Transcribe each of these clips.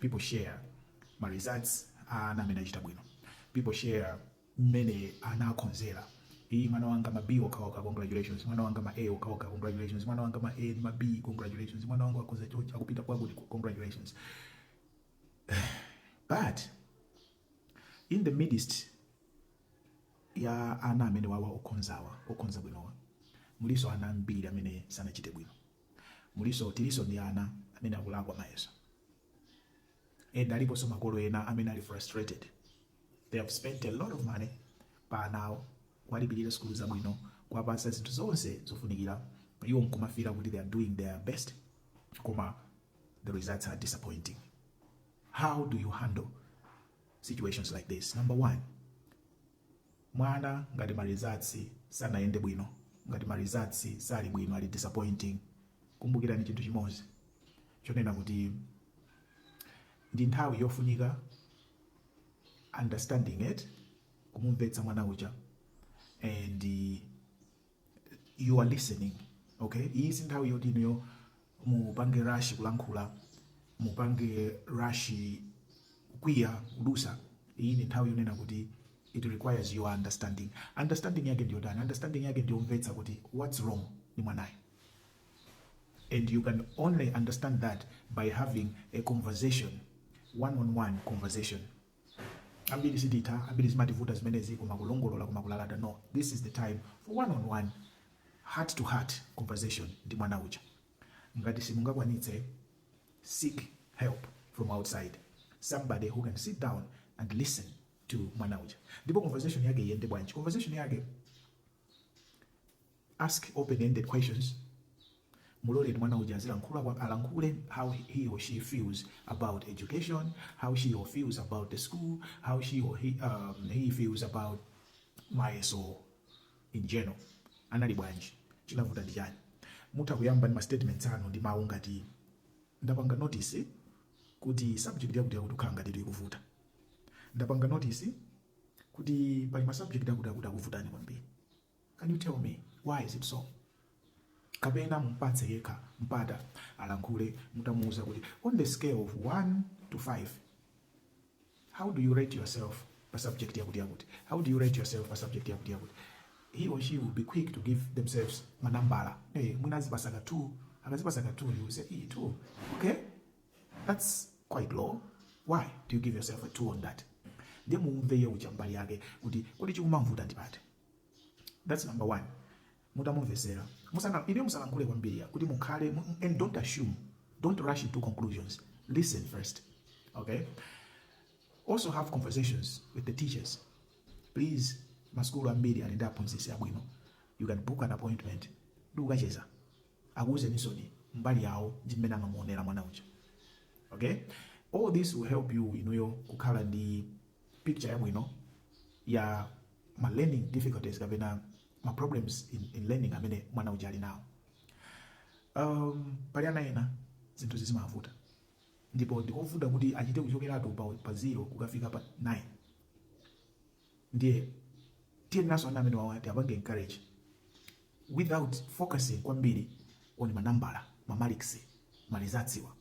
people share ma results a ana amene achita bwino people share mmene ana akhozera iyi mwana wanga ma b okhaokha congratulations mwana wanga ma a okhaokha congratulations mwana wanga ma a ndi ma b congratulations mwana wanga akhoza chochi akupita kwakuti congratulations but in the midst ya ana amene awa okhozawa okhoza bwinowa mulinso ana ambiri amene sanachite bwino Mulinso, tilinso ndi ana amene akulakwa mayeso and aliponso makolo ena amene ali frustrated, they have spent a lot of money pa ana awo, kuwalipilira sukulu zabwino, kuwapatsa zinthu zonse zofunikira, iwo nkumafila kuti they are doing their best koma the results are disappointing. How do you handle situations like this? Number one, Mwana ngati ma results sanayende bwino, ngati ma results sali bwino ali disappointing, kumbukirani chinthu chimodzi chonena kuti ndi nthawi yofunika understanding eti, kumumvetsa mwana uja and you are listening okay iyi si nthawi yoti inuyo mupange rush kulankhula mupange rush kukwiya kudusa iyi ndi nthawi yonena kuti it requires your understanding understanding yake ndiyotani understanding yake ndiyomvetsa kuti what's wrong ndi mwanayo and you can only understand that by having a conversation one on one conversation ambiri sititha ambiri zimativuta zimenezi koma kulongolola koma kulalata no this is the time for one on one heart to heart conversation ndi mwana uja ngati simungakwanitse seek help from outside somebody who can sit down and listen to mwana uja ndipo conversation yake iyende bwanji conversation yake Ask open ended questions, Muloleni mwana uja azilankhula alankhule how he or she feels about education, how she or feels about the school, how she or he, um, he feels about mayeso in general. Anali bwanji? Chinavuta ndi chani? Mutha kuyamba ndi ma statements anu ndi mawu ngati ndapanga notice kuti subject yakuti yakuti kukhala ngati ikukuvuta. Ndapanga notice kuti pali ma subject akuti akuti akuvutani kwambiri. Can you tell me why is it so? Kapena mumpatse yekha mpata alankhule mutha kumuuza kuti on the scale of 1 to 5 how do you rate yourself pa subject yakuti yakuti? How do you rate yourself pa subject yakuti yakuti? He or she will be quick to give themselves manambala. Hey, mwina azipasa ka 2, akazipasa ka 2 you will say, "Eh, 2. Okay? That's quite low. Why do you give yourself a 2 on that? Ndiye muumve iye uja mbali yake kuti kodi chikumamvuta ndi pati? that's number one mutamumvesera musana- inuyo musalankhule kwambiri kuti mukhale mu- and don't assume don't rush into conclusions listen first okay also have conversations with the teachers please masukulu ambiri ali ndi aphunzitsi abwino you can book an appointment ndi kukacheza akuuzenisoni mbali yawo ndi mmene amamuonera mwana uja okay all this will help you inuyo kukhala ndi picture yabwino ya ma learning difficulties kapena ma problems in, in learning amene mwana uja ali nawo um, pali ana ena zinthu zi- zimavuta ndipo ndikovuta kuti achite kuchokeratu pa, pa zero kukafika pa 9 ndiye tiyeneranso ana amenewawa tiwapange encourage without focusing kwambiri on manambala ma marks ma results awa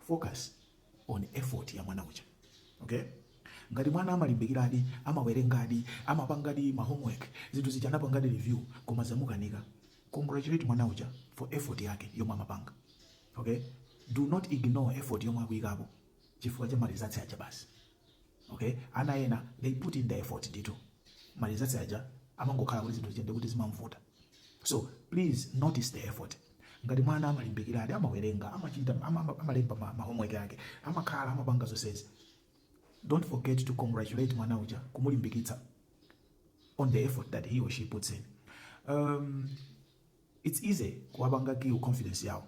focus on effort ya mwana uja okay ngati mwana amalimbikiradi amawerengadi amapangadi ma homework zinthu zija anapangadi review koma zamukanika congratulate mwana uja for effort yake yomwe amapanga okay do not ignore effort yomwe akuyikapo chifukwa cha ma results aja basi okay ana ena they put in the effort ndithu ma results aja amangokhala kuti zinthu ziyende kuti zimamvuta so please notice the effort ngati mwana amalimbikiradi amawerenga amachita ama- ama- amalemba ma- ma homework ake amakhala amapanga zonsezi don't forget to congratulate mwana uja kumulimbikitsa on the effort that he or she puts in um, it's easy kuwapanga kill confidence yawo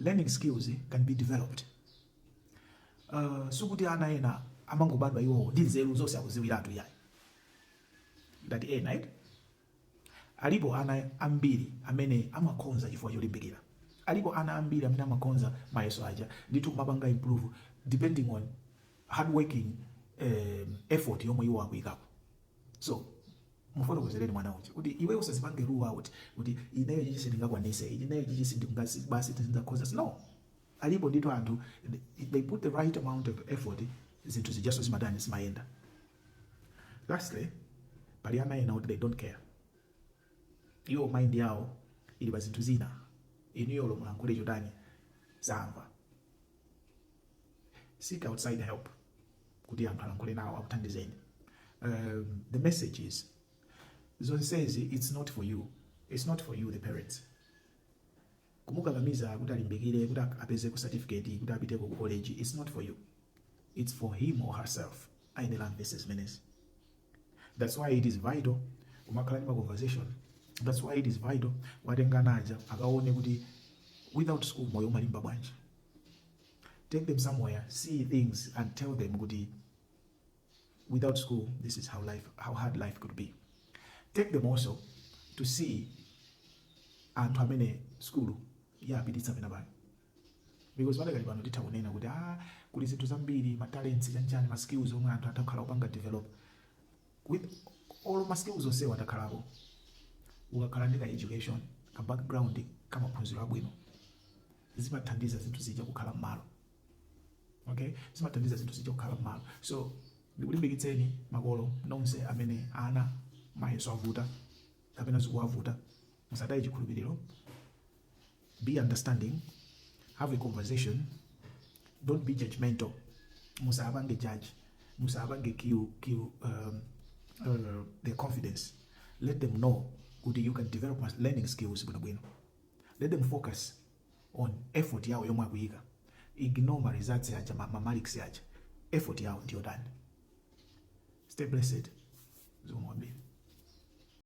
Learning skills can be developed. Uh, sikuti ana ena amangobadwa iwowo ndi nzeru zonse akuziwiratu yayi ngati ena eti alipo ana ambiri amene amakhonza chifukwa cholimbikira alipo ana ambiri amene amakhonza mayeso aja ndithu kumapanga improve depending on hard working um, effort yomwe iwo akuyikapo So mufotokozereni mwana uja kuti iwe usazipange rule out kuti ineyo ichichi sindingakwanise ineyo ichichi sindingazi- basi sindingakhoze no alipo ndithu anthu if they put the right amount of effort zinthu zijaso zimatani zimayenda lastly pali ana ena kuti they don't care iwo mind yawo ili pa zinthu zina inuyo olo mulankhule chotani samva seek outside help kuti anthu alankhule nawo akuthandizeni um, the message is zonsezi it's not for you it's not for you the parents kumukakamiza kuti alimbikire kuti ap- apezeko certificate kuti apiteko ku college it's not for you it's for him or herself ayenera amvese zimenezi That's why it is vital kumakhala ndi ma conversation. That's why it is vital kuwatenga ana aja akaone kuti without school moyo umalimba bwanji. Take them somewhere, see things and tell them kuti without school this is how hard life could be. Take them also to see anthu amene sukulu yawapititsa pena pake. because padakali pano titha kunena kuti ah kuli zinthu zambiri ma talents chanichani ma skills omwe anthu atha kukhala akupanga develop with all ma skills onsewo atakhalapo ukakhala ndi ka education ka background ka maphunziro abwino zimathandiza zinthu zija kukhala mmalo okay zimathandiza zinthu zija kukhala mmalo so ndikulimbikitseni makolo nonse amene ana mayeso awavuta kapena zikuwavuta musataye chikhulupiriro Be understanding, have a conversation, don't be judgemental, musapange judge, musapange kill, kill um, uh, their confidence. Let them know good you can develop learning skills bwino bwino. Let them focus on effort yao yomwe akuika. Ignore ma results yaja, ma, ma marks yaja. Effort yao ndiyo dani. Stay blessed. Zomwambia.